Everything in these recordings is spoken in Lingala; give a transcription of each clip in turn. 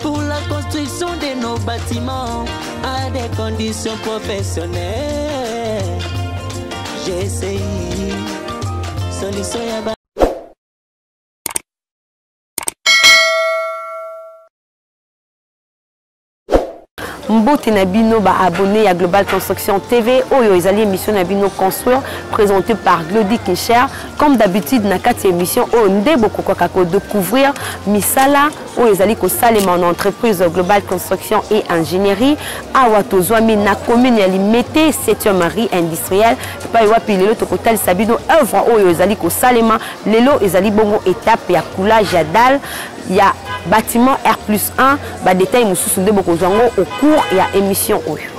Pour la construction de nos bâtiments à des conditions professionnelles. J'ai essayé solution ya mbote na bino abonné à global construction tv oyo ezali émission na bino construire présenté par glody kincher comme d'habitude na kati émission oyo nde bokokaka découvrir misala oyo ezali kosalema na entreprise global construction et ingénierie awa tozwami na commune ya limete 7e marie industrielle epai wapi lelo tokotalisa bino œuvre oyo ezali kosalema lelo ezali bongo étape ya coulage ya dalle ya bâtiment r plus 1 badetail mosusu nde bokozwa yango au cours ya émission oyo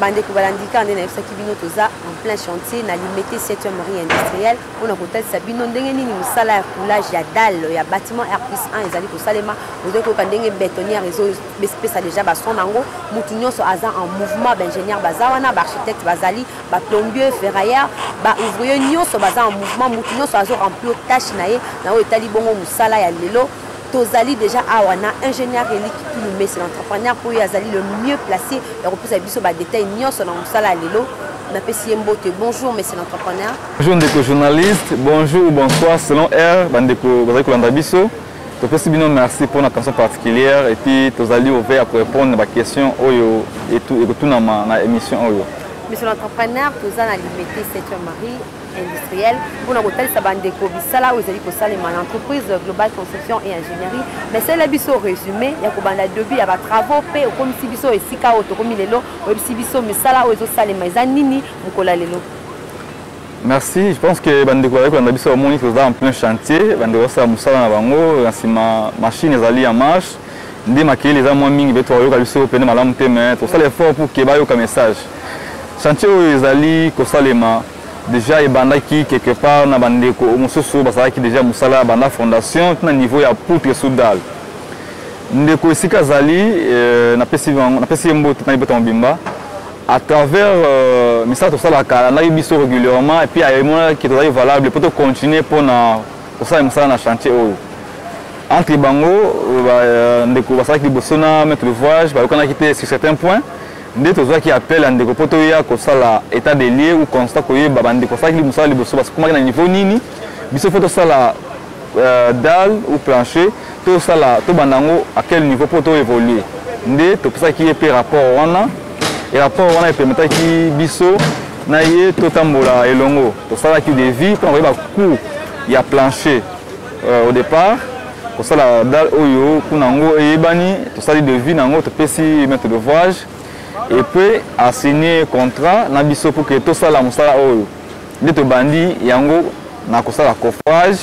bandeko balandika nde nayebisaki bino toza en plein chantier na limete 7e marie industrielle mpona kotalisa bino ndenge nini mosala ya coulage ya dalle ya bâtiment r plus 1 ezali kosalema ozali koyoka ndenge bétonnière ezopesa déjà bason na yango motu nyonso aza en mouvement baingénieur baza wana baarchitecte bazali baplombier ferrailleur baouvrier nyonso baza en mouvement motu nyonso azo remplir tâche na ye na oyo etali bongo mosala ya lelo tozali deja awa na ingénieur eliki tulumesi na entrepreneur mpo ye azali le mieux placé ya kopesa biso badetail nyonso na mosala ya lelo napesi ye mbote bonjour monsieur l'entrepreneur bonjour ndeko journaliste bonjour bonsoir selon heure bandeko bazali kolanda biso topesi bino merci mpo na attention particulière et puis tozali ouvert ya korépondre na baquestion oyo ekotunama na émission oyo monsieur l'entrepreneur toza na limete 7 marie industriel mpona kotalisa bandeko bisala oyo ezali kosalema na entreprise global construction et ingénierie mais sele biso résumé ya kobanda debut ya batravaux mpe okomisi biso esika oyo tokomi lelo oyebisi biso misala oyo ezosalema eza nini mokolo ya lelo merci je pense que bandeko bazali kolanda biso bamoni toza en plein chantier bandeko basala mosala na bango na nsima machine ezali ya marche nde makelele eza mwa mingi peut-être bayoka biso oyo pene malamu te mais tosala effort pour ke bayoka message chantier oyo ezali kosalema déjà ebandaki quelque part na bandeko mosusu bazalaki déjà mosala banda fondation tina niveau ya poutre sous dalle ndeko esika azali euh, napesi ye mbote na libota mobimba à travers euh, misala tosalaka alandaki biso régulièrement et puis ayemonaki tozali valable mpo tocontinue mpo na kosala mosala na chantier oyo entre bango euh, ndeko basalaki liboso na maître l'ouvrage bayokanaki te sur certain point nde tozwaki appel ya ndeko mpo toya kosala état de lieu ou constat koyeba bandeko basalaki mosala liboso basukumaki na niveau nini biso mpo tosala euh, dal ou plancher tosala tobanda yango à quel niveau mpo toévolue nde topesaki ye mpe rapport wana Rapport wana epemetaki biso na ye totambola elongo tosalaki devis mpona koyeba cour ya plancher euh, au départ kosala dal oyo kuna yango eyebani tosali devis na yango topesi maître d'ouvrage et puis asigne contrat na biso mpo ke tosala mosala oyo nde tobandi yango na kosala coffrage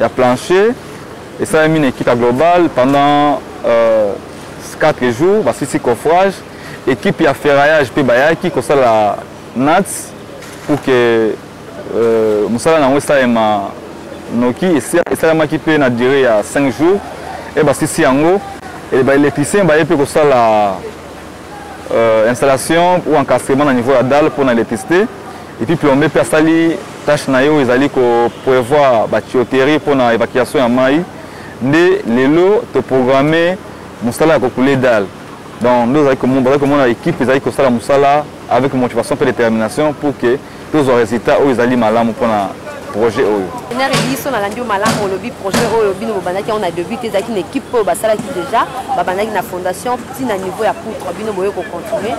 ya plancher esalemi na ekipe ya global pendant euh, 4 jours basisi coffrage ekipe ya ferraillage mpe bayaki kosala nats pour que euh, mosala na yango esalema noki esalamaki mpe na durée ya 5 jours e basisi yango e baélectricien baye mpe kosala euh, installation ou encadrement na niveau ya dalle mpo na électricité Et puis plombier pe asali tâche na ye oyo ezali ko prevoir ba tuyauterie mpo na évacuation ya mai nde lelo toprograme mosala ya kokule dale donc nde ozali bazali komona équipe ezali kosala mosala avec motivation mpe détermination pour que tozwa résultat oyo ezali malamu mpo na projet oyo enere biso nalandi yo malamu olobi projet oyo bino bobandaki yango na début te ezalaki na équipe oyo basalaki déjà babandaki na fondation ntina niveau ya poutre bino boye kocontinue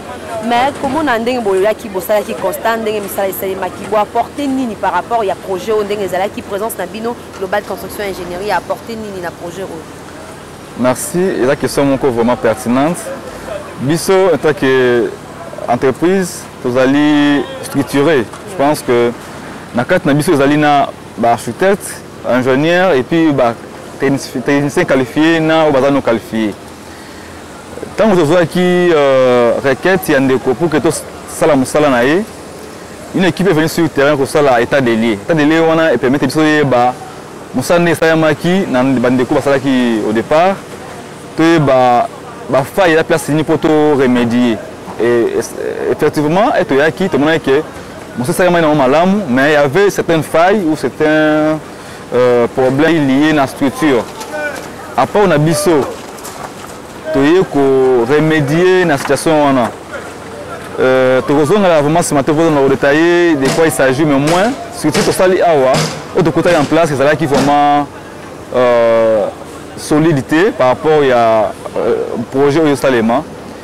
mais komona ndenge boyoyaki bosalaki constat ndenge misala esalemaki bo apporte nini par rapport ya projet oyo ndenge ezalaki présence na bino global construction ingénierie ya apporte nini na projet oyo merci eza question moko vraiment pertinente biso en tant que entreprise tozali structuré je pense que na kati na biso ezali na baarchitecte ingénieur et puis batechnicien qualifié na oyo baza no qualifié ntango tozwaki euh, requête ya ndeko pour que tosala mosala na ye une équipe est venue sur terrain kosala état de lieu état de lieu wana epermete biso toyeba mosala nde esalamaki na bandeko basalaki au départ toyeba bafaille ya place nini mpo to remédier effectivement ete oyaki tomonaki ke mosala esalamaki nango malamu mais il y avait certaines failles ou certains Euh, problème lié na structure apport na biso toye koremédie na situation wana euh, tokozongela vraiment nsima te kozonga kodetaille de quoi il s'agit mais moins surtout tosali awa oyo tokutaki en place ezalaki vraiment euh, solide te par rapport ya projet oyo esalema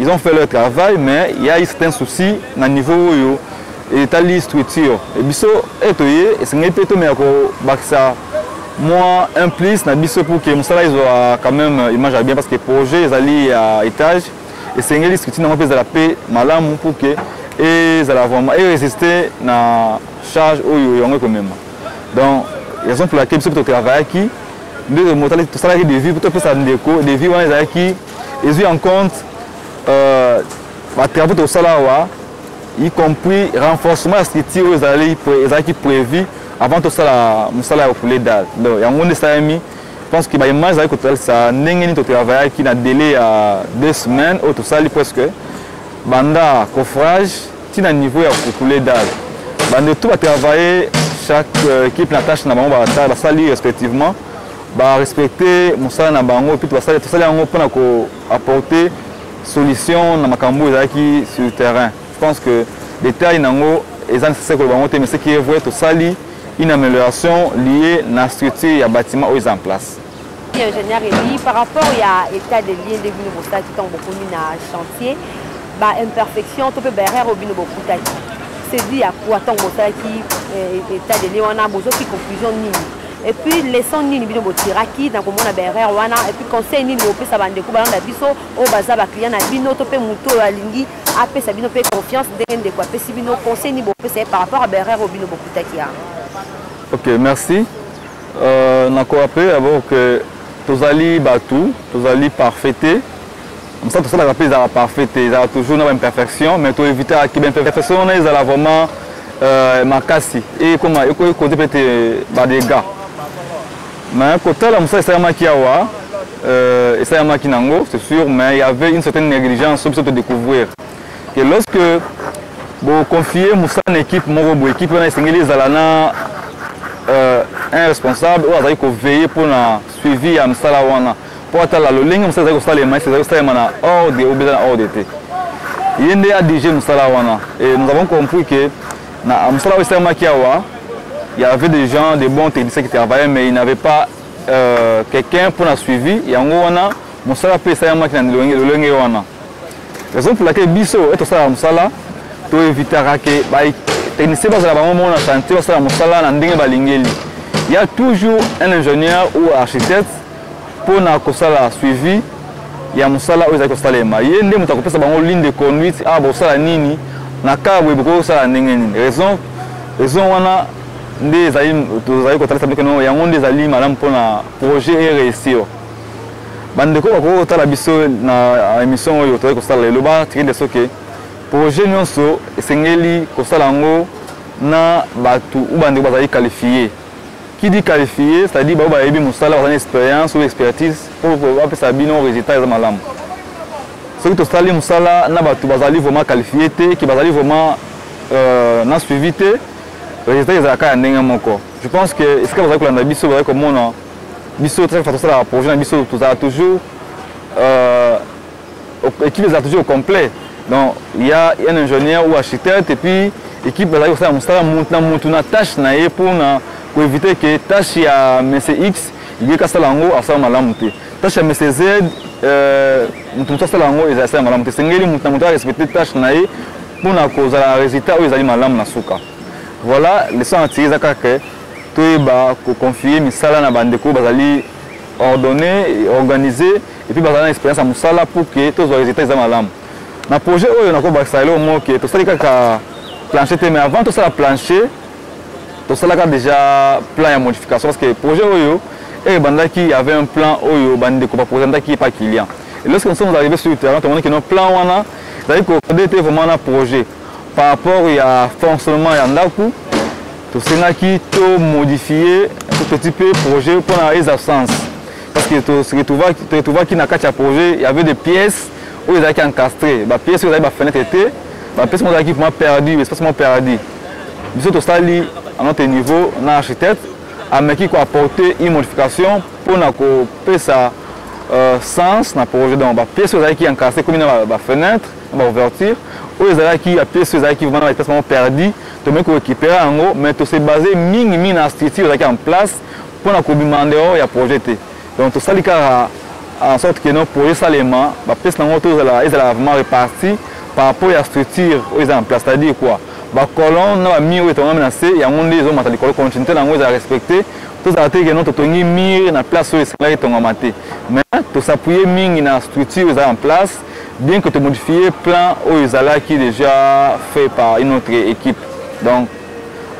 Ils ont fait leur travail, mais il y a eu certains soucis na niveau oyo etali structure. Et biso etoye esengeli pe tomeka kobakisa moi un plus na biso pour que mosala ezwa quand même image ya bien parce que projet ezali ya étage esengeli structure nango mpe ezala mpe malamu pour que ezala vraiment eresiste na charge oyo yango ekomema donc raison pour laquelle biso mpe totravaillaki nde tosalaki devis mpo topesa ndeko devis wana ezalaki ezwi en compte euh, batravaux tokosala awa y compris renforcement ya structure oyo ezalaki prévu avant tosala mosala ya koule dal donc yango nde esalami pense que baimage ezali kotalisa ndenge nini totravayaki na délai ya deux semaines oyo tosali presque banda coffrage ti na niveau ya koule dal bande tout batravaille chaque euh, équipe na tâche na bango basali respectivement ba respecter mosala na bango puis basali tosali yango mpona ko apporter solution na makambo ezalaki sur terrain je pense que détail nango eza nécessaire koloba yango te mais ce qui est vrai tosali une amélioration liée na structure ya bâtiment oyo eza en place ingénieur ebi par rapport ya état de lieu nde bino bosalaki ntango bokomi na chantier baimperfection to mpe baerreur oyo bino bokutaki sedi ya kua ntango bosalaki eh, état de lieu wana bozwaki conclusion nini et puis leçon nini bino botiraki na komona baerreur wana et puis conseil nini bopesa bandeko balanda biso oyo baza baclient na bino to mpe moto oyo alingi apesa bino mpe confiance ndenge ndeko apesi bino conseil nini bopesa ye par rapport ya baerreur oyo bino bokutaki yango ok merci euh, nakorape abord ke tozali bato tozali parfait te mosala tosalaka mpe ezalaka parfait te ezalaka toujours na baimperfection mais toevitaka ki baimperfection wana ezala vraiment euh, makasi ekoma ekokoze mpe te badega mais kotala mosala esalamaki awa euh, esalamaki nango c'est sûr mais il y avait une certaine négligence so biso todécouvrir que lorsque boconfie mosala na équipe moko boye équipe wana esengeli ezala na euh, un responsable oyo azali koveille mpo na suivi ya mosala wana mpo atala lolenge mosala ezali kosalema esi ezali kosalema na ordre oyo eza na ordre te ye nde adirige mosala wana et nous avons compris que na mosala oyo esalemaki awa il y avait des gens de bons techniciens qui travaillaient mais il n'avait pas euh, quelqu'un mpo na suivi yango wana mosala mpe esalemaki na lolenge wana raison pour laquelle biso ete tosalaka mosala toevitaka ke technicien bazala bango moko na chantier basala mosala na ndenge balingeli ya toujours un ingénieur ou architecte mpo na kosala suivi ya mosala oyo ezali kosalema ye nde moto akopesa bango ligne de conduite awa ah, bosala nini na kaa boye bokoki kosala ndenge nini raison raison wana nde ezali tozali kotalisa bino keno yango nde ezali malamu mpo na projet e réussir bandeko bakoki kotala biso na émission oyo tozali kosala lelo batiki nde soki projet nyonso esengeli kosala yango na bato u bandeko bazali qualifie Qui dit qualifié, c'est-à-dire baoyo bayebi mosala bazali expérience ou expertise oyo bapesa bino résultat eza malamu. Soki tosali mosala na bato bazali vraiment qualifié te, ki bazali vraiment euh, na suivi te, résultat ezalaka ya ndenge moko. Je pense que esika bazali kolanda biso bazali komona biso très façon tosala projet na biso tozala toujours euh, Equipe ezala toujours complet. Donc il y a un ingénieur ou architecte et puis équipe bazali kosala mosala mutu na mutu na tâche na ye mpo na koevite ke tâche ya monsieur x ye kasala yango asala malamu te tâche ya monsieur z euh, moto mosusu asala yango ezali asala malamu te esengeli moto na moto arespecte tâche na ye mpo na kozala résultat oyo ezali malamu na suka voilà leson na tiri eza kaka ke toyeba koconfie misala na bandeko bazali ordonné organisé et puis bazala na expérience ya mosala pour que tozwa résultat eza malamu na projet oyo nakobakisa eloko moko ke tosali kaka plancher te mais avant tosala plancher tosalaka déjà plan ya modification parce que projet oyo et eh, bandaki il y avait un plan oyo bandeko ba présentaki pas client et lorsque nous sommes arrivés sur le terrain tomoni que nos plans wana ezali kokode te vraiment na projet par rapport ya fonctionnement ya ndako tosengaki to modifier tout petit peu projet mpona eza sens parce que to se retrouva to retrouva ki na kati ya projet il y avait des pièces oyo ezalaki encastré ba pièces oyo ezalaki ba fenêtre te ba pièces mo ezalaki vraiment perdu espace mo perdu biso tosali à notre niveau na architecte ameki ko apporter une modification pour na ko pesa euh, sens na projet donc ba pièces oyo ezalaki encastré komi na ba fenêtre na ba ouverture oyo ezalaki ya pièce oyo ezalaki vraiment na ba pièces mo perdu tomeki ko récupérer yango mais to se baser mingi mingi na structure ezalaki en place Mpo na kobima en dehors ya projet te. Donc tosali kaka en sorte que non projet salema ba pièces nango tozala ezala vraiment reparti par rapport ya structure oyo eza en place c'est-à-dire quoi ba colonne na ba mur oyo etongami na se yango nde ezomata likolo continuité na yango ezala respecte tozala te keno totongi mur na place oyo esengelaki etongama te mais tosappuye mingi na structure eza en place bien que tomodifie plan oyo ezalaki déjà fait par une autre équipe donc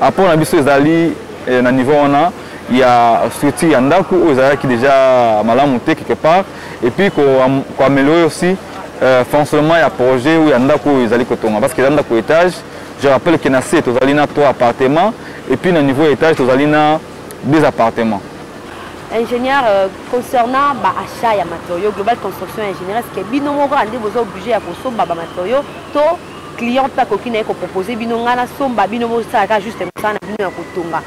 Apport na biso ezali eh, na niveau wana ya structure ya ndako oyo ezalaki deja malamu te quelque part et puis ko, ko améliorer aussi euh, fonctionnement ya projet ou ya ndako oyo ezali kotonga parce que eza ndako étage je rappelle que na se tozali na trois appartements et puis na niveau ya étage tozali na deux appartements ingénieur euh, concernant ba achat ya matériaux global construction ingénieur est-ce que bino moko ande boza obligé ya kosomba ba matériaux to client pe akoki na ye kopropose bino ngai nasomba bino bosala kaka juste mosala na bino ya kotonga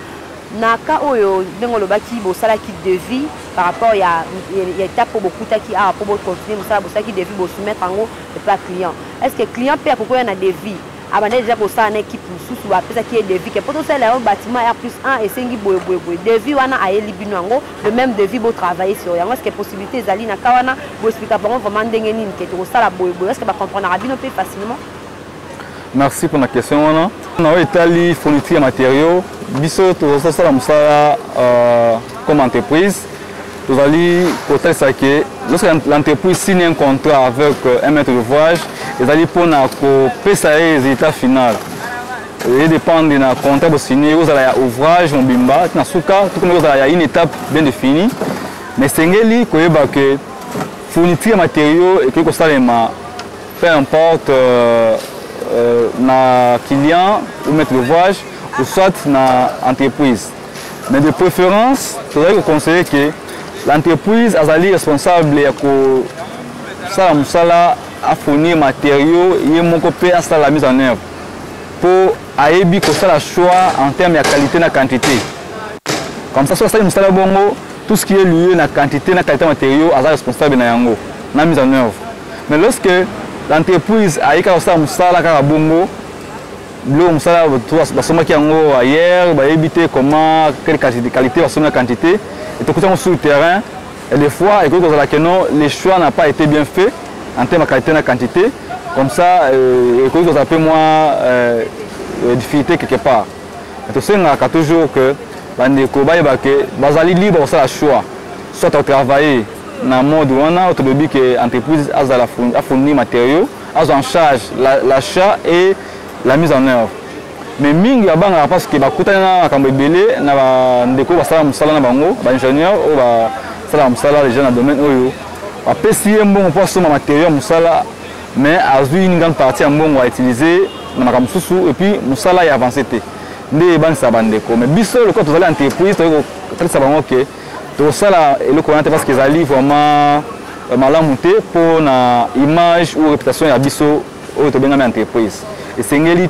na ka oyo ndenge olobaki bosalaki devis par rapport ya, ya, ya étape oyo bokutaki awa mpo bocontinue mosala bosalaki devis bosoumettre yango epa client est ce que client mpe akoki oya na devis abanda deja kosala na équipe mosusu bapesaki ye devis ke mpo tosalela yango bâtiment r plus 1 esengi boye boye boye devis wana ayeli bino yango le même devis bo travailler sur yango est-ce que possibilité ezali na ka wana bo expliquer bango vraiment ndenge nini ke tokosala boye boye est-ce que ba comprendra bino pe facilement merci pour la question wana na oyo etali fourniture ya matériaux biso tozosala mosala euh, comme entreprise tozali kotalisa ke lorsque l'entreprise signe un contrat avec euh, un maître de voyage ezali mpona kopesa ye résultat final eye dépendre na contrat bosini ekozala ya ouvrage mobimba na suka tokomi kozala ya une étape bien définie mais esengeli koyeba ke fourniture ya matériaux ekoki kosalema peu importe euh, euh, na client ou maître d'ouvrage ou soit na entreprise mais de préférence tozali koconseille ke l'entreprise azali responsable ya kosala mosala afournir matériaux ye moko mpe asala mise en œuvre mpo ayebi kosala choix en terme ya qualité na quantité comme ça soki asali mosala bongo tout ce qui est lieu na quantité na qualité matériaux aza responsable na yango na mise en œuvre mais lorsque l'entreprise aye kaka kosala mosala kaka bongo biloko mosala basombaki yango ailleurs bayebi te comment quelle qualité basombi na quantité etokuti yango sur le terrain Des fois, ekoki kozala que non, le choix n'a pas été bien fait en termes de qualité na quantité. Comme ça, euh, ekoki kozala peu moins euh, euh, difficulté quelque part. Mais tosengaka toujours que bandeko bayeba que bazali libre kosala choix, soit au travailler na mode wana oyo tolobi que entreprise azala afournir matériaux, azwa en charge l'achat et la mise en œuvre. mais mingi babangaka parce que bakutani na makambo ebele na bandeko basala mosala na bango baingénieur oyo basalaka mosala deja na domaine oyo bapesi ye mbongo mpo asomba materio ya mosala mais azwi une grande partie ya mbongo autilize na makambo mosusu epuis mosala ya avance te nde ebanisa bandeko mais biso lokola tozali entreprise toyei kotalisa bango ke tokosala eloko wana te parce que ezali vraiment euh, malamu te mpo na image ou réputation ya biso oyo tobengami entreprise esengeli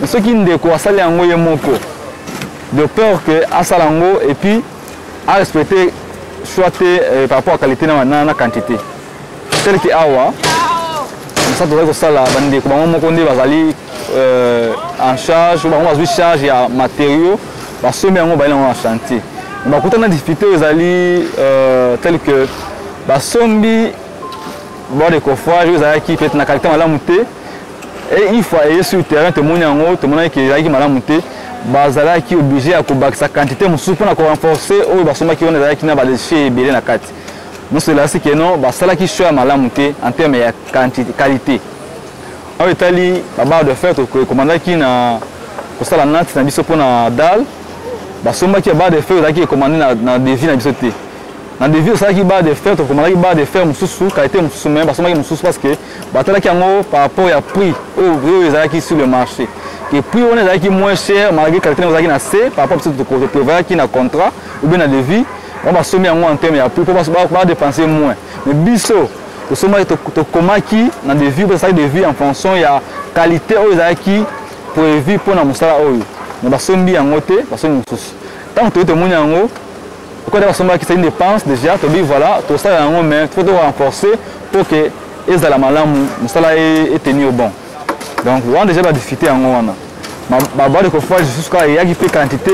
mais soki ndeko asali yango ye moko de peur que asala yango et puis a respecter soit te euh, par rapport à qualité na, na, na quantité tel que awa mosala tozali kosala bandeko bango moko nde bazali euh, en charge bango bazwi charge ya matériaux basombi yango bayeli yango na chantier bakutana na difficulté oyo ezali euh, tel que basombi bord de coffrage oyo ezalaki peut-être na qualité malamu te Et une fois eye sur terrain tomoni yango tomonaki ke ezalaki malamu te bazalaki oblige ya kobakisa quantité mosusu mpo na korenforce oyo basombaki wana ezalaki na badeshe ebele na kati nyonso elakisi ke non basalaki choix ya malamu te en terme ya qualité oyo etali babar de fer tokomandaki na kosala nati na biso mpo na dal basombaki ya bar de fer ezalaki ekomande na devis na biso te na devis osalaki bar de fer tokomandaki bar de fer mosusu qualité mosusu me basombaki mosusu parce que batalaki yango par rapport ya prix oyo oyo ezalaki sur le marché ke prix wana ezalaki moins cher malgré qualité yango ezalaki na se par rapport biso toprevoyaki na contrat ou bien na devis bango basombi yango en terme ya prix mpo badepense moins mais biso tosombaki tokomaki na devis mpo tosalaki devis en fonction ya qualité oyo ezalaki prévu mpo na mosala oyo mais basombi yango te basombi mosusu ntango toyei tomoni yango Pourquoi d'ailleurs somba qui c'est une dépense déjà to bi voilà to ça yango mais faut to renforcer pour que ezala malamu musala est tenu au bon. Donc on déjà ba difficulté yango wana. Ba ba de kofage jusqu'à il y a qui fait quantité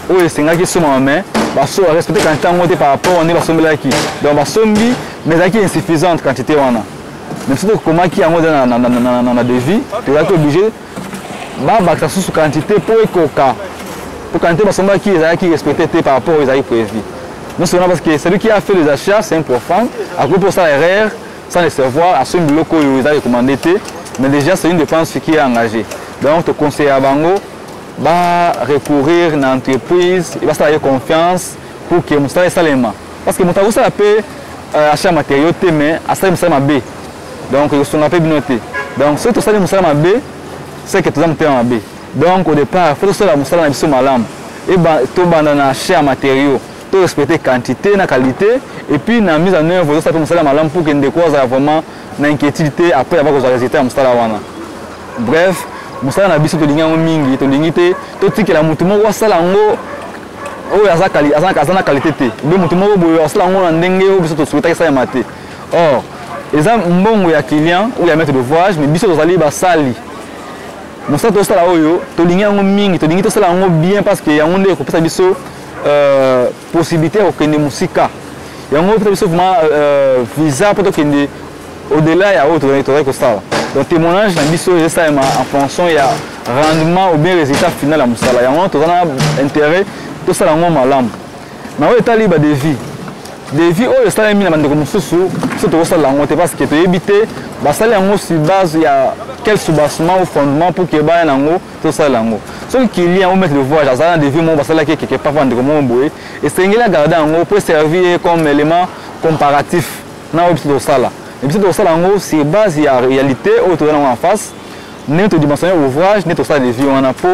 oyo esengaki esomama mais baso respecte quantité yango te par rapport nde basombelaki donc basombi mais ezalaki insuffisante quantité wana mais soki tokomaki yango eza na devis tozalaki oblige babakisa susu quantité mpo ekoka mpo quantité basombaki ezalaki respecte te par rapport oyo ezalaki prévu nyonso wana parce que celui qui a fait les achats c'est un profane akoki mpo osala erreur sans le savoir asombi biloko oyo eza recommande te mais déjà c'est une dépense qui est engagée donc toconseillaka bango ba recourir na entreprise basala ye confiance pour que mosala esalema parce que moto akosala mpe euh, achat matériaux te mais asali mosala mabe donc ekosunga mpe bino te donc soki tosali mosala mabe seke toza motema mabe donc au départ fo tosala mosala na biso malamu tobanda na achat ya matériaux to respecter quantité na qualité et puis na mise en œuvre tozosala mpe mosala malamu pour ke ndeko azala vraiment na inquiétude te après yaba kozwa résultat ya mosala wana bref mosala na biso tolingi yango mingi tolingi te totikela moto moko asala yango oyo aza na kalite te be moto moko boye asala yango na ndenge oyo biso tosuetaki esalema te or eza mbongo ya client ou ya maître de voyage mais biso tozali basali mosala tosala oyo tolingi yango mingi tolingi tosala yango bien parce que yango nde ekopesa biso euh, possibilité ya kokende mosika yango epesa biso vraiment euh, visa mpo tokende Au delà ya oyo tozali tozali kosala donc témoignage na biso ezosalema en fonction ya rendement ou bien résultat final ya mosala yango wana toza na intérêt tosala yango malamu na oyo etali badevis devis oyo esalemi na bandeko mosusu biso tokosala yango te parce que toyebi te basali yango sur base ya quel soubassement ou fondement pour que baya na yango tosala yango soki client ou maître de voyage azali na devis moko basalaki ekeke papa ndeko moko boye esengeli agarde yango mpo eservir ye comme élément comparatif na oyo biso tokosala et biso tokosala yango sur base ya réalité oyo toza nango en face ndenge todimensionne ouvrage nde tokosala devis wana mpo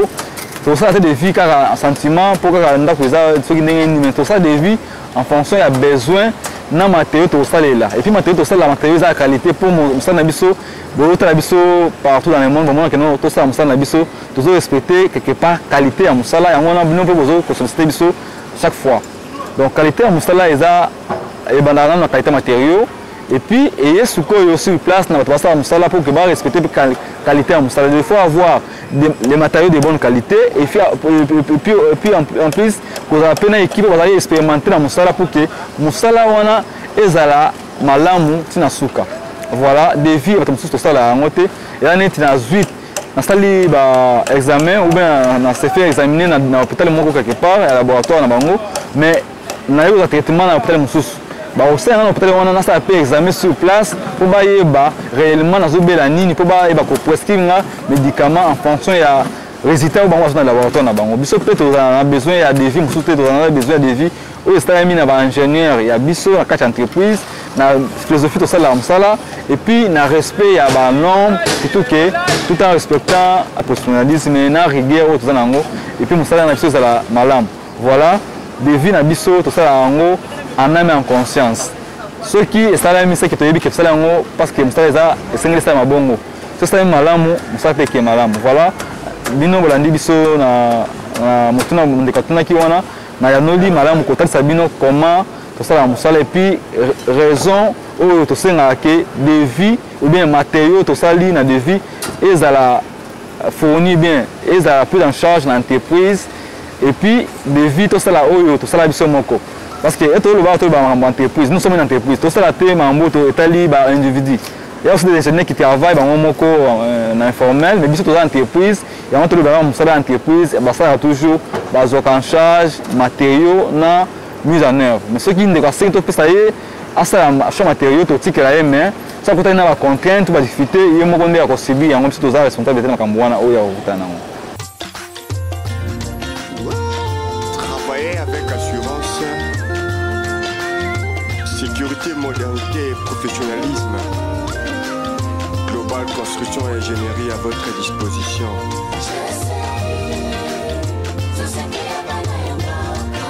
tokosala te devis kaka sentiment mpo kaka ndako eza soki ndenge nini mais tokosala devis en fonction ya besoin na matériaux tokosalela et puis matériaux tokosalela matériaux eza ya qualité mpo mosala na biso botala biso partout dans le monde bamonaka no tosala mosala na biso tozo respecte quelque part qualité ya mosala yango wana bino mpe bozo kosollicite biso chaque fois donc qualité ya mosala eza ebandaka nano na qualité matériaux et puis eye sikoyo sur place na bato basala mosala mpo ke barespecte mpe qualité ya mosala il faut avoir les matériaux de bonne qualité et puis, et puis, et puis en, en plus kozala mpe na équipe bazali expérimente na mosala mpo ke mosala wana ezala malamu ntina suka voilà devis bato mosusu tosala yango te eya neti na zwit nasali ba examen ou bien na sefe examine na hôpital moko quelque part ya laboratoire na bango mais naye kozwa traitement na hôpital mosusu bakosala nga na hôpital wana nasala mpe examen sur place mpo bayeba réellement nazobela nini mpo bayeba koprescrire nga médicament en fonction ya résultat oyo bango bazwa na laboratoire na bango biso mpe tozala na besoin ya devis mosusu te tozala na besoin ya devis oyo esalami na baingénieur ya biso na kati ya entreprise na philosophie tosalaka mosala epuis na respect ya banorme surtout ke tout en respectant professionnalisme na rigueur oyo toza na yango epuis mosala na biso ezala malamu Voilà, devis na biso tosala yango en âme en conscience. soki esalami seke toyebi ke tosala yango parce que mosala eza esengeli esalama bongo soki esalami malamu mosala mpe eke malamu voilà bino bolandi biso na, na motuna ndeko atunaki wana nayanoli malamu kotalisa bino comment tosala mosala epuis raison oyo tosengaka ke devis ou bien matériaux tosali na devis ezala fourni bien ezala prise en charge na entreprise et puis devis tosala oyo tosala biso moko parce que eto olobaka toyeba makambo entreprise nous sommes une entreprise tosala te makambo to etali ba individu ya aussi des ingénieurs qui travaillent bango moko euh, na informel mais biso toza entreprise yango tolobaka mosala ya entreprise basalaka toujours bazwaka en charge matériaux na mise en œuvre mais soki ndeko asengi topesa ye asala achat matériaux totikela ye mais soki akutani na bacontrainte to badifficulté ye moko nde akosubir yango biso toza responsabilité na makambo wana oyo akokutana nango sécurité, modernité et professionnalisme. Global Construction et Ingénierie à votre disposition.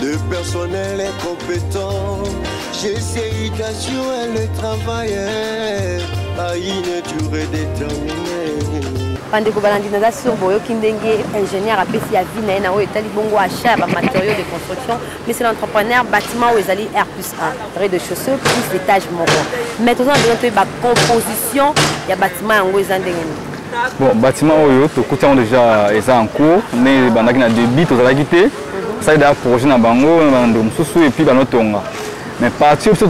De personnel incompétent, j'essaye d'assurer le travail. Aïne, tu redéterminé. bandeko balandi naza sur boyoki ndenge ingénieur apesi ya vie na ye na oyo etali bongo achat ya bamatériaux de construction mais c'est l'entrepreneur bâtiment oyo ezali r plus 1 rez de chaussée plus étage moko mais toza na besoin toyeba composition ya bâtiment yango eza ndenge nini bon bâtiment oyo tokuti yango déjà eza en cours nde ebandaki na débit tozalaki te basali deja projet na bango na bando mosusu epuis banotonga mais parti biso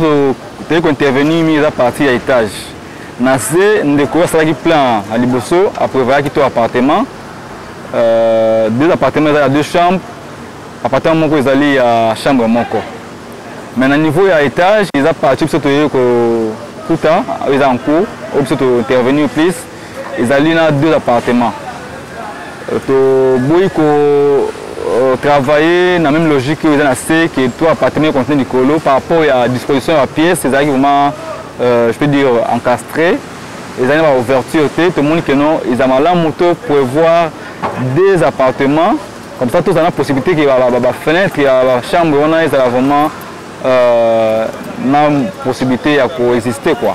toyei kointervenir mingi eza parti ya étage na se ndeko oyo asalaki plein ya liboso aprévoyaki to appartement euh, deux appartement eza ya deux chambres appartement moko ezali ya chambre moko mais na niveau ya étage eza parti biso toyei kokuta oyo eza en cours oyo biso tointervenir plus ezali na deux appartements euh, toboyi ko euh, travailler na même logique oyo eza na se que to appartement ya continue likolo par rapport ya disposition ya pièce ezalaki vraiment euh, je peux dire encastré ezali na baouverture te tomoni que non eza malamu to prévoir deux appartements comme ça tozala na possibilité ke bafenêtre ya bachambre wana ezala vraiment euh, na possibilité ya koexiste quoi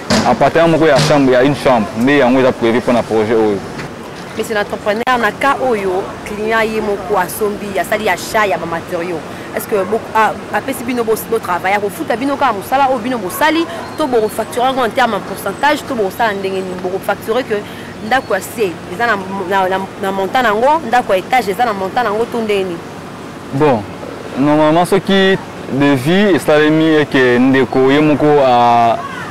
Appartement moko ya chambre ya une chambre nde yango eza prévu mpo na projet oyo. Monsieur l'entrepreneur, na cas oyo client ye moko asombi asali achat ya ba matériaux est-ce que apesi bino botravaille akofuta bino kaka mosala oyo bino bosali to bokofacture yango en terme ya pourcentage to bokosala ndenge nini bokofacture que ndako ya se eza na montant na yango ndako ya étage eza na montant na yango to ndenge nini Bon, normalement soki devis esalemi eke ndeko ye moko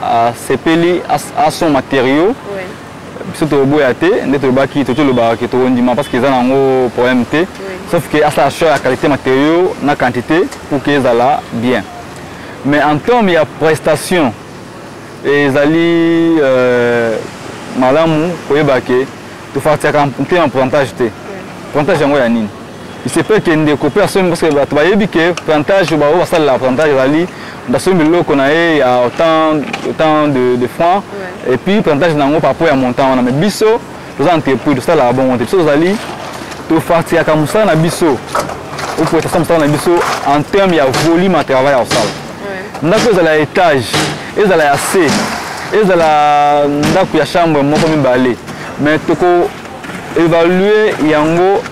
asepeli a son matériaux oui. biso toboya te nde tolobaki toki olobaka ke tokondima parce que eza nango problème te oui. sauf que asala choix ya qualité matériaux na quantité pour que ezala bien mais en terme ya prestation ezali euh, malamu koyeba ke tofartiaka mpe na pourcentage te pourcentage yango ya nini il se peut que ndeko mpe asombi parce que bato bayebi ke plantage baoyo basalela plantage ezali basombi biloko na ye ya autant, autant de, de francs ouais. et puis plantage na yango par rapport ya montant wana mais biso toza entrepris tosalaka bongo te biso tozali tofartiaka mosala na biso okoetasa mosala na biso en terme ya volume ya travail ya kosala ndako ezala ya étage ezala ya se ezala ndako ya chambre moko mibale mais toko évalue yango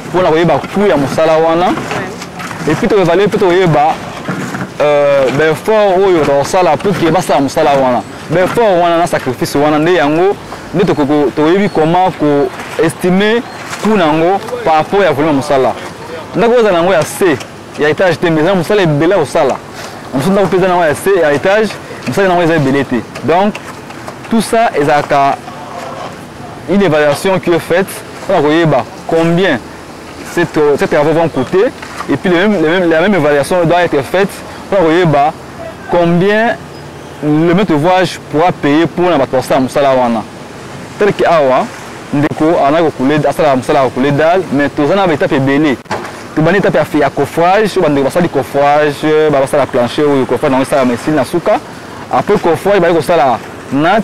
mpo na koyeba coût ya mosala wana epuis toevalue mpe toyeba euh, baeffort oyo tokosala mpo ke basala mosala wana baeffort wana na sacrifice wana nde yango nde toyebi comment koestime coût na yango par rapport ya volume ya mosala ndako oyo ezala yango ya c ya étage te mais eza mosala ebele ya kosala mosusu ndako mpe eza na yango ya c ya étage mosala na yango eza ebele te donc tout ça ezalaka une évaluation qui est faite on a koyeba combien ces travaux vont coûter et puis le même, le même, la même évaluation doit être faite on a koyeba combien le maître ouvrage pourra payer pour na bato basala mosala wana tel que awa ndeko ana kokule asalaka mosala ya kokule dal mais toza na baetape ebele tobandi etape ya coffrage oyo bandeko basali coffrage basala plancher oyo coffrage yango esalama esili na suka après coffrage baye kosala nat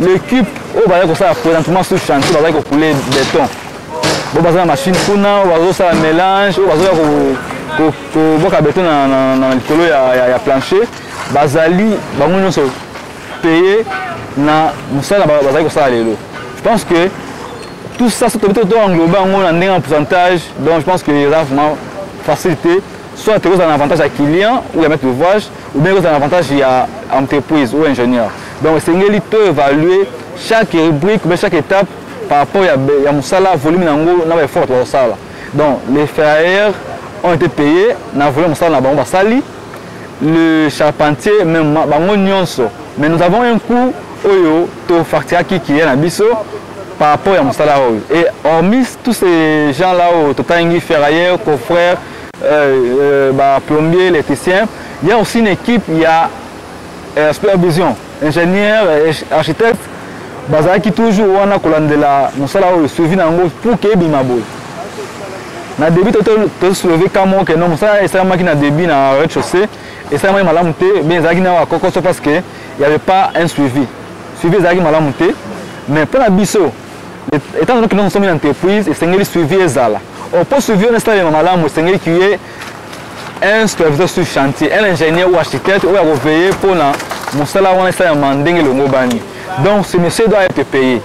L'équipe oyo bazali kosala présentement sur chantier bazali kokule beton bo baza na machine kuna oyo bazosala mélange oyo bazoya koboka beton na likolo ya plancher bazali bango nyonso paye na mosala bazali kosala lelo je pense que tout ça soki tobi to englobe yango na ndenge ya pourcentage donc je pense que eza vraiment facilité soit tokozala na avantage ya client ou ya maître d'ouvrage ou bien kozala na avantage ya entreprise ou ingénieur donc esengeli to évaluer chaque rubrique ou bien chaque étape par rapport ya, ya mosala volume na yango na baeffort bato bazosala donc les ferrailleurs ont été payés na volume mosala na bango basali le charpentier même bango nyonso mais nous avons un coût oyo tofacturaki kiya na biso par rapport ya mosala oyo et hormis tous ces gens là oyo totangi ferrailleurs coffreurs euh, ba plombier électricien il y a aussi une équipe il y a euh, supervision ingénieur euh, architecte bazalaki toujours wana kolandela mosala oyo suivi na yango pour ke ebima boye na début tosoleve ka moko ke no mosala esalamaki na début na rez chaussée esalamaki malamu te bien ezalaki na bakokoso parce que y avait pas un suivi suivi ezalaki malamu te mais mpo na biso etant donné que nous sommes une entreprise esengeli suivi ezala Oh, pour suivre un stade de malamu, c'est qu'il y ait un superviseur sur chantier, un ingénieur ou architecte, ou à veiller pour la moussala ou un stade de manding le ngobani. Donc, ce monsieur doit être payé.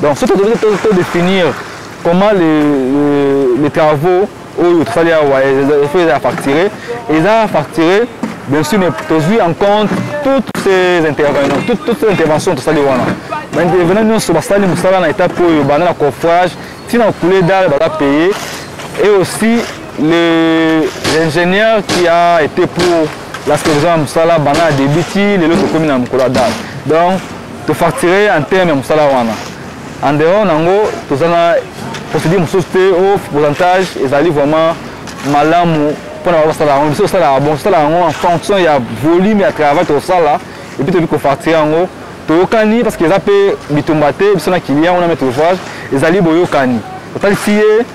Donc, surtout, vous devez définir comment les, les, les travaux oyo tosali awa efo eza ya facture eza ya facture bien sûr mais tozwi en compte toutes ces intervenants toutes, toutes ces interventions tosali wana baintervenant nyonso basali mosala na étape oyo banda na coffrage Tina coulé d'art baza payé et aussi le l'ingénieur qui a été pour la solution ya mosala banda na début ti lelo tokomi na mokolo ya date donc tofacture en terme ya mosala wana en dehors nango toza na procédure mosusu te o pourcentage ezali vraiment malamu mpona bango basala yango biso tosalaka bon tosalaka yango en fonction ya volume ya travail tokosala epuis toyebi kofacture yango toyokani parce que eza mpe bitumba te biso na client wana maître d'ouvrage ezali boyokani otalisi ye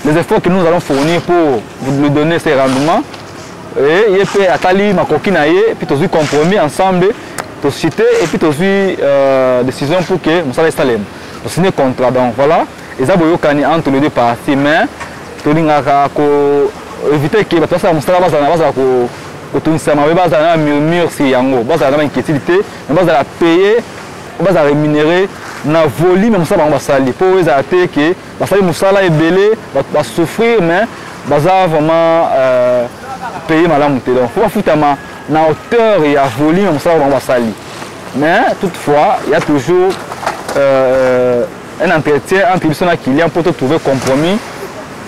les efforts que nous allons fournir pour lui donner ses rendements et ye mpe atali makoki na ye mpe tozwi compromis ensemble tosite et puis tozwi euh, décision pour que mosala esalema tosine contrat donc voilà eza boyokani entre les deux parties mais tolingaka ko éviter ke bato basala mosala bazala bazala kotungisa mabe bazala na murmure si yango bazala na bainquiétude te mais bazala paye ou bazala rémunéré na volume ya mosala bango basali mpo oyo ezala te ke basali mosala ebele basouffrir mais baza vraiment euh, paye malamu te donc mpo bafutama na hauteur ya volume ya mosala bango basali mais toutefois il y a toujours euh, un entretien entre biso na client mpo totrouve compromis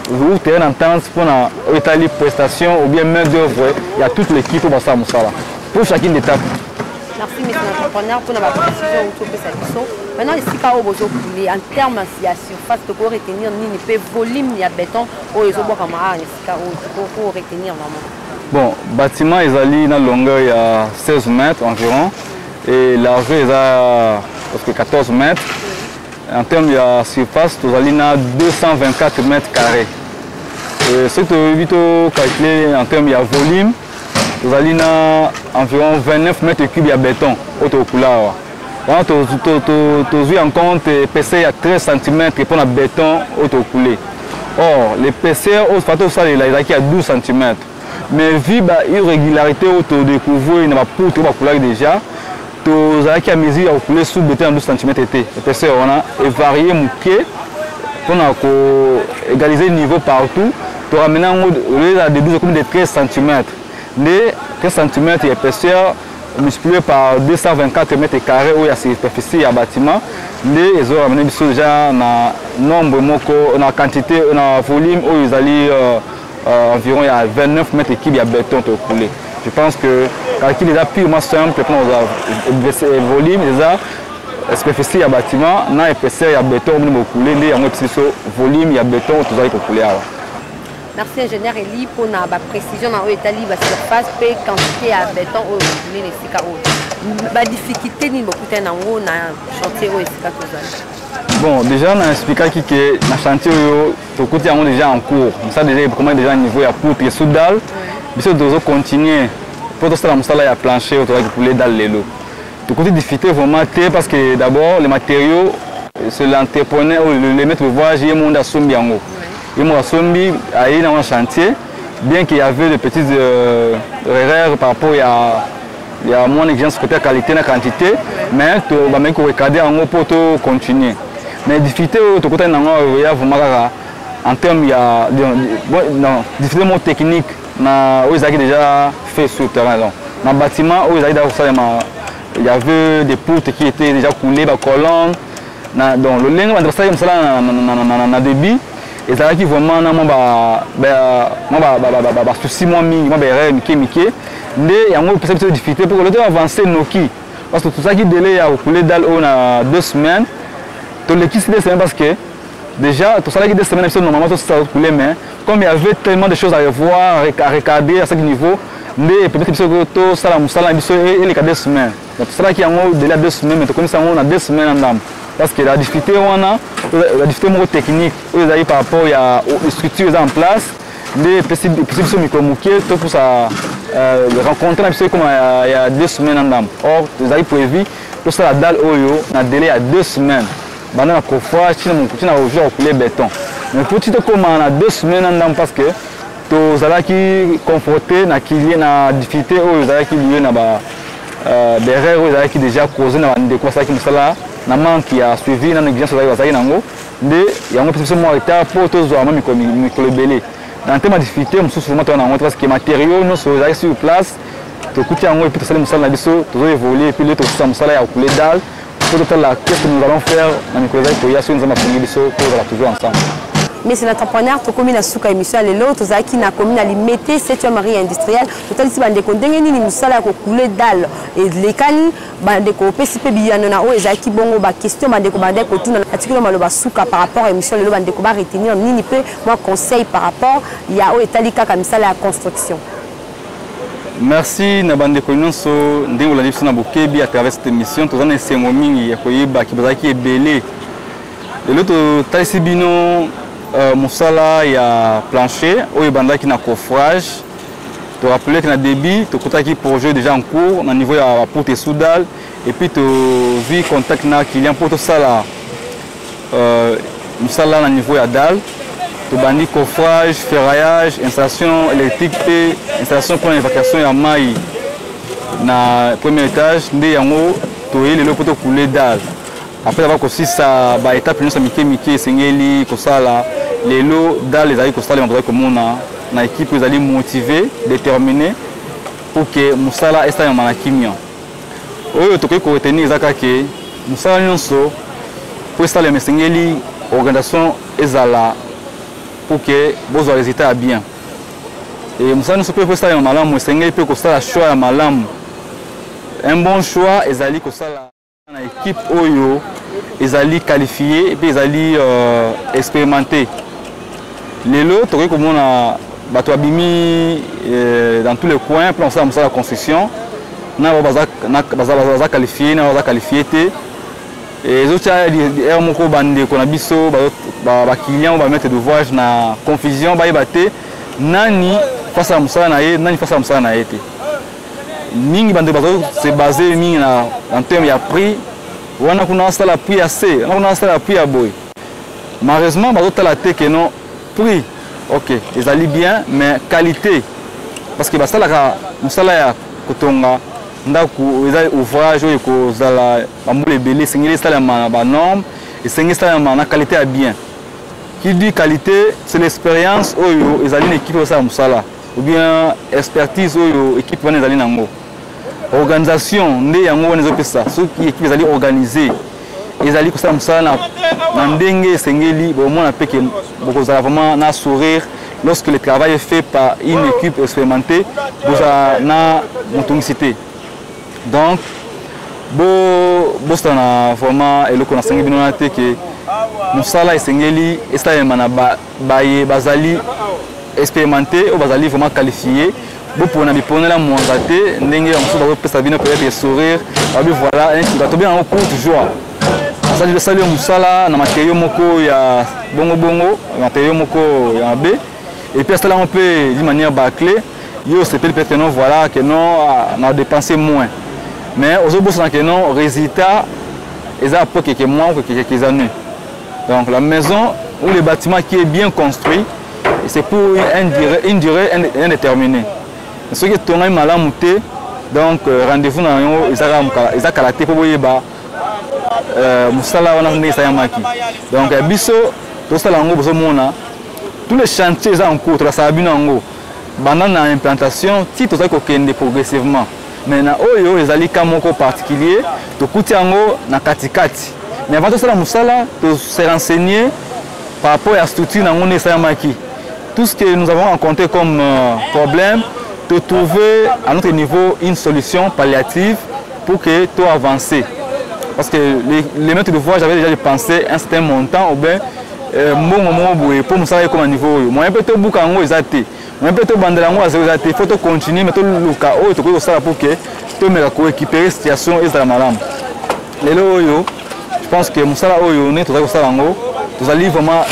ou terrain d'entente mpo na oyo etali prestation ou bien main d'œuvre ya toute l'équipe oyo basala mosala mpo chacune d'étape merci mesi na entrepreneur mpona baprecision outi opesa biso maintenant esika oyo bozokule en terme ya surface tokoki retenir nini mpe volume ya béton oyo ezobwakama awa na esika oyo tokoki retenir vraiment bon bâtiment ezali na longueur ya 16 mètres environ et largeur eza parce que 14 mètres en terme ya surface tozali na 224 mètres carré soki toyebi tocalcule en terme ya volume tozali na environ 29 mètre cube ya béton oyo tokokula awa wana tozwi en compte épaisseur ya 13 cm mpo na béton oyo tokokule or l'épaisseur oyo fa tosalela ezalaki ya 12 cm mais vu ba irrégularité oyo todécouvrir na bapoutre oyo bakulaki déjà tozalaki ya mesure ya kokule sous bete na 12 cm te épaisseur wana evarie moke mpo na ko égaliser niveau partout toramena yango olela de 12 ekomi de 13 cm nde 13 cm ya épaisseur multiplié par 224 mètres carrés oyo ya superficie ya bâtiment nde ezoramena biso deja na nombre moko na quantité na volume oyo ezali euh, euh, environ ya 29 mètres cube ya beton tokoule je pense que calcul eza purement simple mpona kozwa volume eza superficie ya bâtiment na épaisseur ya beton omoni bokule nde yango epesi biso volume ya beton tozali kokule awa merci ingénieur eli mpona baprécision na oyo etali basurface mpe quantité ya beton oyo bokule na esika oyo badifficulté nini bokutani yango na chantier oyo esika tozali bon déjà na explikaki ke na chantier oyo tokuti yango déjà en cours mosala déjà ekoma déjà niveau ya poutre sous dalle biso tozo continuer mpo tosala mosala ya plancher oyo tozalaki pouler dalle lelo tokuti difficulté vraiment te parce que d'abord les matériaux c'est l'entrepreneur ou le, le maître de voyage ye monde asombi yango ye monde asombi aye nango na chantier bien qu'il y avait de petites euh, erreurs par rapport ya ya mwana exigence côté qualité na quantité mais to ba meko recadrer yango pour to continuer mais difficulté oyo tokutani nango euh, ya vraiment kaka en terme ya non difficulté moko technique na oyo ezalaki déjà fait sur terrain donc na bâtiment oyo ezalaki déjà kosalema il y avait des poutres qui étaient déjà coulées bacolonne donc lolenge banda basalaki mosala na débit ezalaki vraiment na mwa basusi mwa mingi mwa baerreur mike mike nde yango epesa biso difficulté mpo kolete avance noki parce que tozalaki dele ya kokule dale oyo na deux semaines tolekisi deux semaines parce que déjà tosalaki deux semaines biso normalement tosala kokule mais comme il y avait tellement de choses à revoir à recadrer à chaque niveau nde peut-être biso tosala mosala na biso eleka deux semaines Na tosalaki yango dela deux semaines, mais tokomisi yango na deux semaines na ndambo. Parce que la difficulté wana, la difficulté moko technique, oyo ezali par rapport ya structure eza en place, nde epesi biso mikolo moke topusa euh, rencontre na biso ekoma ya deux semaines na ndambo. Or, ezali prévu tosala dale oyo na délai ya deux semaines. Banda na kofa, tina mokuti na ojo ya kule beton. Mais mpo ti tokoma na deux semaines na ndambo parce que tozalaki confronte na kilie na difficulté oyo ezalaki liye na ba euh, berere oyo ezalaki déjà cause na bandeko basalaki mosala na manque ya suivi na négligence ozalaki bazalaki nango nde yango mpesa biso mwa retard mpo tozwa mwa mikolo ebele na ntema difficulté mosusu vraimen toa na yango te parce que matériaux nyonso ezalaki sur place tokuti yango epuis tosali mosala na biso tozo évoluer epuis le tokosisa mosala ya kule dale Faut totala qu'est-ce que nous allons faire na mikolo ezali koya soki nzambe apongi biso mpo ozala toujours ensemble Monsieur l'entrepreneur, tokomi na suka émission ya lelo tozalaki na commune ya Limete 7e marie industrielle totalisi bandeko ndenge nini mosala ya kokule dale elekani bandeko opesi mpe biyano na oyo ezalaki bongo baquestion bandeko bandaki kotuna atikilo maloba suka par rapport ya émission lelo bandeko baretenir nini mpe mwa conseil par rapport ya oyo etali kaka misala ya construction Merci na bandeko nyonso ndenge olandi biso na bokebi à travers cette émission toza na esengo mingi ya koyeba ki bazalaki ebele lelo totalisi bino euh, mosala ya plancher oyo ebandaki na coffrage to rappeler que na début tokutaki projet déjà en cours na niveau ya porte soudal et puis tozwi contact na client mpo tosala Euh, mosala na niveau ya dal tobandi coffrage ferraillage installation électrique mpe installation mpo na évacuation ya mai na premier étage nde yango toyei lelo mpo tokule dal après aba kosisa baetape nyonso ya mike mike esengeli kosala lelo dal ezali kosalema tozali komona na ekipe ezali motive détermine mpo ke mosala esalemama na kimia oyo tokoki ko retenir eza kaka ke mosala nyonso mpo esalema esengeli organisation ezala pour que bozwa résultat ya bien e mosala nyonso mpe mpo esalema malamu esengeli mpe kosala choix ya malamu un bon choix ezali kosala na équipe oyo ezali qualifie mpe ezali euh, expérimenté lelo tokoki komona bato babimi eh, dans tous les coins mpona kosala mosala ya construction na bao baza qualifie na baza qualifie te ezotya r moko bandeko na biso baclient oyo bamaitre d'ouvrage na confusion bayeba te nani fasala mosala na ye nani fasala mosala na ye te mingi bandeko bazali se base mingi na terme ya prix wana kuna asala prix ya se wana kuna asala prix ya boye malheureusement bazotala te que non prix ok ezali bien mais qualité parce que basalaka mosala ya kotonga ndako eza ouvrage oyo ekozala bambula ebele esengeli esalema na banorme esengeli esalema na qualité ya bien qui dit qualité c'est l'expérience oyo ezali na ekipe osala mosala ou bien expertise oyo ekipe wana ezali na yango organisation nde yango wana ezopesa soki ekipe ezali organise ezali kosala mosala na, na ndenge esengeli bomona mpe ke bokozala vraiment na sourire lorsque le travail est fait par une équipe expérimentée bozala na motungisi te donc bosala na vraiment eloko nasengi bino wana te ke mosala esengeli esalema na ba baye bazali experimente oyo bazali vraiment qualifie bopona biponela mwanga te ndenge bamosusu bakopesa bino peut-être sourire babi voilà tobengaka yango courte joie asali osali yo mosala na materio moko ya bongobongo materio moko ya mabe epuis asala yango mpe d'une manière baclé yo osepeli peut-être que non voilà que non ah, na dépense moins mais ozobosana que non résultat eza po keke mwa kokekeke eza nui Donc la maison ou le bâtiment qui est bien construit, c'est pour une durée, une durée indéterminée. Ce qui est tourné malamu te, donc euh, rendez-vous na yango eza kala te mpo boyeba euh, mosala wana ndenge esalamaki. Donc ya biso tosala yango bozomona tous les chantiers eza en cours, tolasala bino yango banda na implantation ti tozali kokende progressivement. Mais na oyo ezali cas moko particulier, tokuti yango na katikati. Mais avant tosala musala, to se renseigner par rapport à structure na ngone esalamaki. Tout ce que nous avons rencontré comme euh, problème, de trouver à notre niveau une solution palliative pour que tout avance. Parce que les, les maîtres de voie, j'avais déjà pensé un certain montant ou bien euh, mbongo moko boye mpo mosala ekoma niveau oyo moyen mpe tobuka yango eza te mais mpe tobandela yango azo eza te fo tocontinue mais toluka oyo tokoki kosala pour ke tomeka koéquipere situation ezala malamu lelo oyo je pense que mosala oyo nde tozali kosala yango tozali vraiment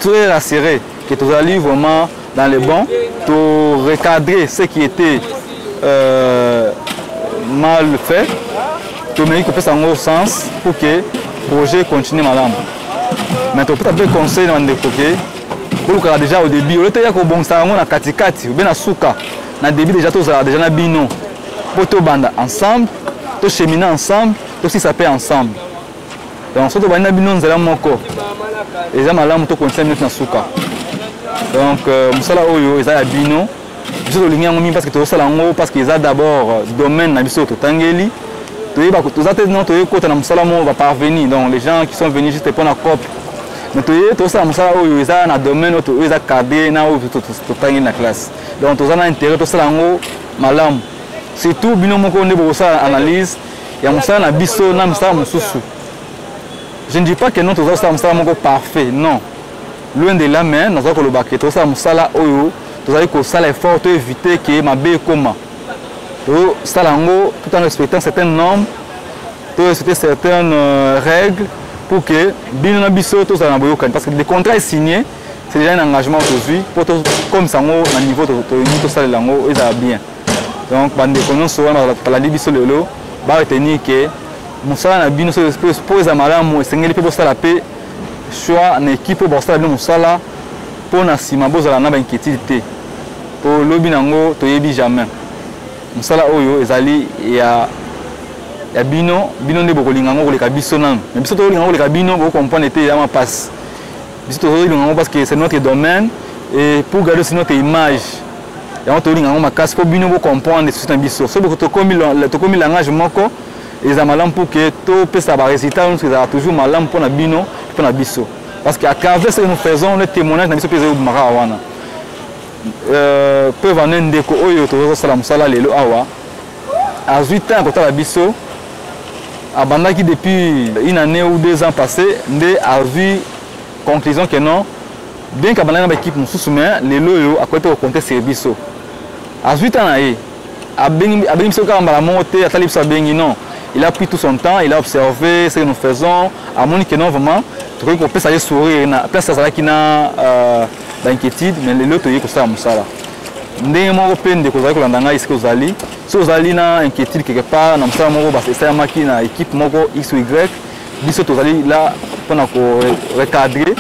très rassuré que tozali vraiment dans le bon to recadrer ce qui était euh, mal fait tomeki kopesa yango sens pour que projet continue malamu mais topesa mpe conseil na bandeko ke bolukaka deja au début oyo toya kobongisa yango na katikati obe na suka na début deja tozalaka deja na bino mpo tobanda ensemble tochemine ensemble tosisa mpe ensemble donc soki tobandi na bino nzela moko eza malamu tokondisa bino na suka donc euh, mosala oyo eza ya bino biso tolingi yango mingi parceke tozosala yango parceke eza d'abord euh, domaine na biso totangeli toyeba toza te non toyei kota na mosala moko baparveni donc les gens qui sont venus juste mpo na cope mais toyei tosala mosala oyo eza na domaine oyo eza cadre na oyo totangeli na classe donc toza na intérêt tosala yango malamu surtout bino moko nde bokosala analyse ya mosala na biso na mosala mosusu je ne dis pas que non toza kosala mosala moko parfait non loin de là mais naza koloba ke tosala mosala oyo tozali kosala effort to éviter ke mabe ekoma tosala yango tout en respectant certaines normes to respecter certaines euh, règles pour que bino na biso tozala na boyokani parce que le contrat est signé c'est déjà un engagement tozwi mpo comme sango na niveau tolingi tosalela yango ezala bien donc bandeko nyonso wana balandi biso lelo baretenir ke mosala na bino mpo eza malamu esengeli mpe bosala mpe soit na équipe oyo bakosala bino mosala mpo na nsima bozala na bainquiétude te mpo lobi na yango toyebi jamais mosala oyo ezali ya ya bino bino nde bokolinga yango koleka biso nanu mais biso tokolinga yango koleka bino bokokomprendre te eyama mpasi biso tozolinga yango parce que c'est notre domaine et pour garder aussi notre image yango tolinga yango makasi mpo bino bokomprendre susi na biso soki tokomi langage moko eza malamu mpo ke topesa baresultat nyonso ezala toujours malamu mpo na bino mpo na biso parce que à travers ce que nous faisons le témoignage na biso mpe ezali obimaka awa wana euh, preuve ane ndeko oyo tozosala mosala lelo awa azwi temps ya kotala biso abandaki depuis une année ou deux ans passé nde azwi conclusion que non bien kabandaki na baekipe mosusu mais lelo oyo akoki te kokonte sur biso azwi temps na ye abengi abengi biso kaka mbala moko te atali biso abengi non il a pris tout son temps il a observé ce que nous faisons amoni que non vraiment tokoki kopesa ye sourire na place azalaki na euh, bainquiétude mais lelo toyei kosala mosala ndenge moko mpe ndeko ozali kolanda ngai esika ozali soki ozali na inquiétude quelque part na mosala moko esalamaki na équipe moko x ou y biso tozali la mpona korecadre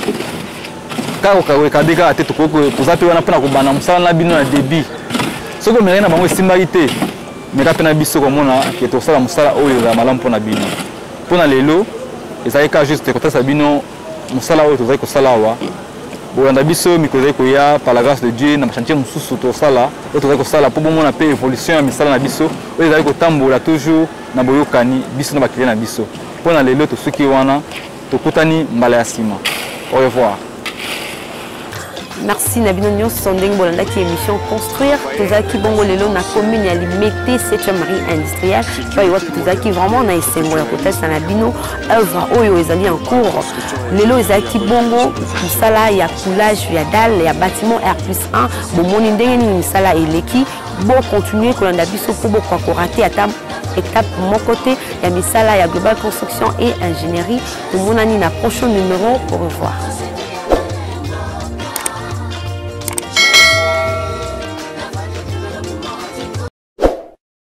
kaka kokawekabe kaka te tokoki toza mpe wana mpo na kobanda mosala na bino na debit soki omelaki na bango esimbaki te meka mpe na biso komona ke tokosala mosala oyo ezala malamu mpo na bino mpo na lelo ezali kaka juste kotalisa bino mosala oyo tozali kosala awa bolanda biso mikolo ezali koya par la grâce de dieu na bachantier mosusu tosala oyo tozali kosala mpo bomona mpe évolution ya misala na biso oyo ezali kotambola toujours na boyokani biso na bakile na biso mpo na lelo tosuki wana tokutani mbala ya nsima au revoir merci na bino nyonso ndenge bolandaki émission construire tozalaki bongo lelo na commune ya limete 7e marie industrielle epai wapi tozalaki vraiment na esengo ya kotalisa na bino œuvre oyo ezali en cours lelo ezalaki bongo mosala ya coulage ya dalle ya bâtiment r plus 1 bomoni ndenge nini misala eleki Bo continuer kolanda biso mpo bokoka korate ata étape moko te ya misala ya global construction et ingénierie tomonani na prochain numéro au revoir